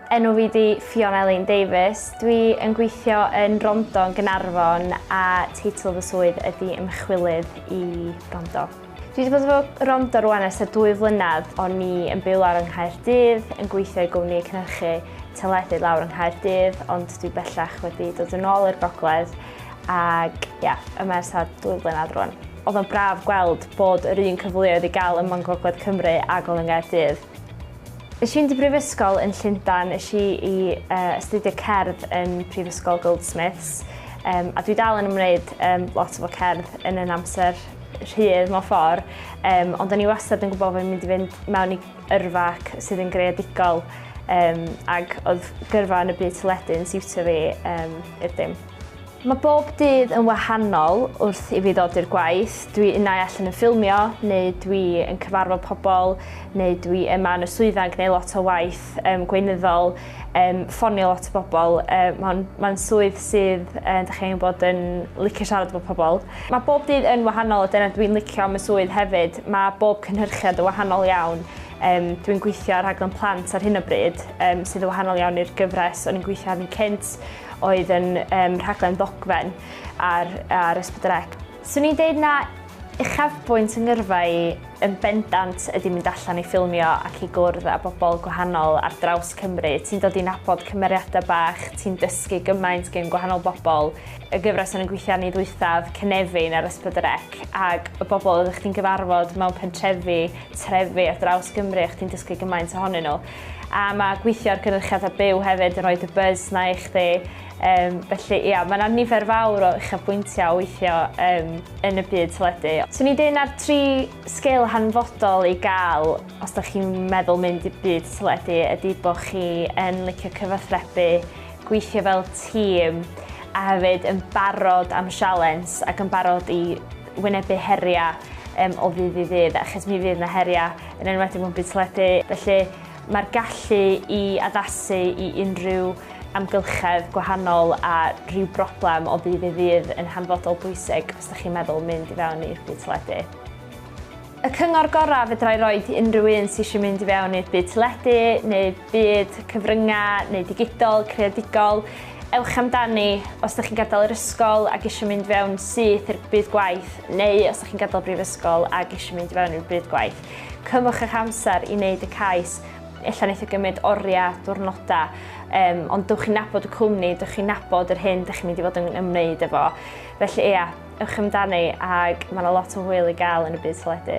Enw fi di Fiona Elaine Davies. Dwi yn gweithio yn Rondo yn Gynarfon a teitl fy swydd ydy ymchwilydd i Rondo. Dwi wedi bod efo Rondo rwan ers y dwy flynedd. O'n i yn byw lawr yng Nghaerdydd, yn gweithio i gwmni cynhyrchu teledu lawr yng Nghaerdydd, ond dwi bellach wedi dod yn ôl i'r gogledd Ac ie, yeah, y mers ar dwy flynedd rwan. Oedd o'n braf gweld bod yr un cyfleoedd i gael ym Mhont Gogledd Cymru a Golen Gaerdydd. Nes i'n di brifysgol yn Llundan, nes i i uh, astudio cerdd yn Prifysgol Goldsmiths, um, a dwi dal yn ymwneud um, lot o fo cerdd yn yn amser rhydd mewn ffordd, um, ond o'n i wastad yn gwybod fod fi'n mynd i fynd mewn i yrfa ac sydd yn greadigol um, ac oedd gyrfa yn y byd teledu yn siwtio fi um, i'r dim. Mae bob dydd yn wahanol wrth i fi ddod i'r gwaith. Dwi unau allan yn ffilmio, neu dwi yn cyfarfod pobl, neu dwi yma yn y swyddfa yn gwneud lot o waith um, gweinyddol. um, ffonio lot o bobl. Uh, Mae'n ma swydd sydd, uh, da chi'n bod yn licio siarad efo pobl. Mae bob dydd yn wahanol a dyna dwi'n licio am y swydd hefyd. Mae bob cynhyrchiad yn wahanol iawn. Um, dwi'n gweithio ar rhaglen plant ar hyn o bryd, um, sydd yn wahanol iawn i'r gyfres o'n i'n gweithio arni cynt, oedd yn um, rhaglen ddogfen ar, ar Ysbryd Swn i'n deud na uchafbwynt 'y ngyrfa i yn bendant ydi mynd allan i ffilmio ac i gwrdd â bobl gwahanol ar draws Cymru. Ti'n dod i nabod cymeriadau bach, ti'n dysgu gymaint gen gwahanol bobl. Y gyfres o'n i'n gweithio arni ddwythaf, Cynefin ar S4C, ag y bobl oeddech chdi'n gyfarfod mewn pentrefi, trefi ar draws Gymru a chdi'n dysgu gymaint ohonyn nhw. A mae gweithio ar gynyrchiadau byw hefyd yn rhoi dy buzz 'na i chdi. Yym, felly, ia, mae yna nifer fawr o uchafbwyntiau o weithio um, yn y byd teledu. Swn i'n dweud na'r tri sgil hanfodol i gael os da chi'n meddwl mynd i byd teledu ydy bod chi yn licio cyfathrebu, gweithio fel tîm, a hefyd yn barod am sialens ac yn barod i wynebu heriau um, o ddydd i ddydd, achos mi fydd yna heriau yn enwedig mewn byd teledu. Felly, Mae'r gallu i addasu i unrhyw amgylchedd gwahanol a rhyw broblem o ddydd i ddydd yn hanfodol bwysig os da chi'n meddwl mynd i fewn i'r byd teledu. Y cyngor gorau fedra i roed i unrhyw un sy eisiau mynd i fewn i'r byd teledu neu byd cyfryngau neu digidol, creadigol, ewch amdani os da chi'n gadael yr ysgol ac eisiau mynd fewn syth i'r byd gwaith neu os da chi'n gadael brifysgol ac eisiau mynd i fewn i'r byd gwaith. Cymwch eich amser i wneud y cais. Ella wneith o gymryd oriau, diwrnodau, um, ond dywch chi'n nabod y cwmni, dywch chi'n nabod yr hyn dych chi'n mynd i fod yn ymwneud efo. Felly ia, ewch amdani ac mae yna lot o hwyl i gael yn y byd teledu.